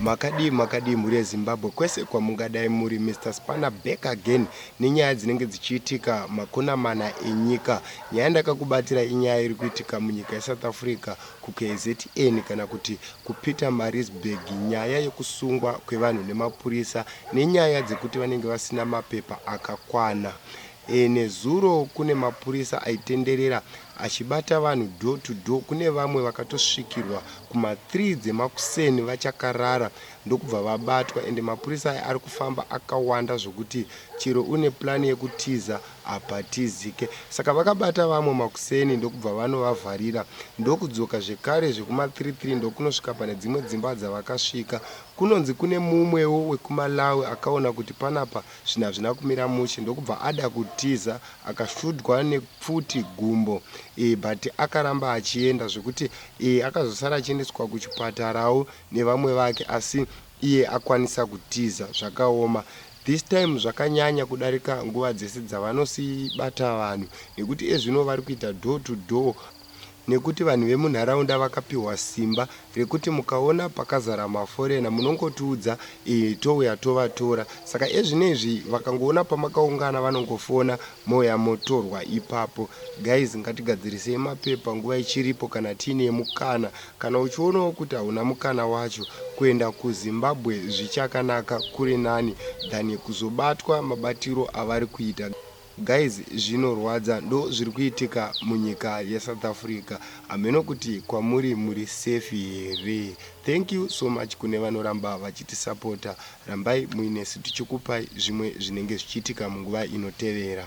makadii makadii mhuri yezimbabwe kwese kwamungadai muri mr spana back again nenyaya dzinenge dzichiitika makuna mana enyika nyaya ndakakubatira inyaya iri kuitika munyika yesouth africa kukzn kana kuti kupeter marisburg nyaya yekusungwa kwevanhu nemapurisa nenyaya dzekuti vanenge vasina mapepa akakwana E, nezuro kune mapurisa aitenderera achibata vanhu door to door. Kune vamwe vakatosvikirwa kuma 3 dzemakuseni vachakarara ndokubva vabatwa ende mapurisa aya ari kufamba akawanda zvokuti chero une plani yekutiza hapatizike. Saka vakabata vamwe makuseni ndokubva vanovavharira ndokudzoka zvekare zvekuma 33 ndokunosvika pane dzimwe dzimba dzavakasvika. Kunonzi kune mumwewo wekuMalawi akaona kuti panapa Zvinhu hazvina kumira mushe ndokubva ada kutiza akasvudwa nepfuti gumbo e, but akaramba achienda zvekuti e, akazosara achiendeswa kuchipatarawo nevamwe vake asi iye akwanisa kutiza. Zvakaoma this time zvakanyanya kudarika nguva dzese dzavanosiibata vanhu nekuti ezvino vari kuita door to door nekuti vanhu vemunharaunda vakapihwa simba rekuti mukaona pakazara maforena munongotiudza ee touya tovatora saka ezvinezvi vakangoona pamakaungana vanongofona mouya motorwa ipapo guys ngatigadzirisei mapepa nguva ichiripo kana tiine mukana kana uchionawo kuti hauna mukana wacho kuenda kuzimbabwe zvichakanaka kuri nani than kuzobatwa mabatiro avari kuita Guys zvinorwadza ndo zviri kuitika munyika ye South Africa hameno kuti kwamuri muri safe here thank you so much kune vanoramba vachitisapota rambai muinesu tichikupai zvimwe zvinenge zvichiitika munguva inotevera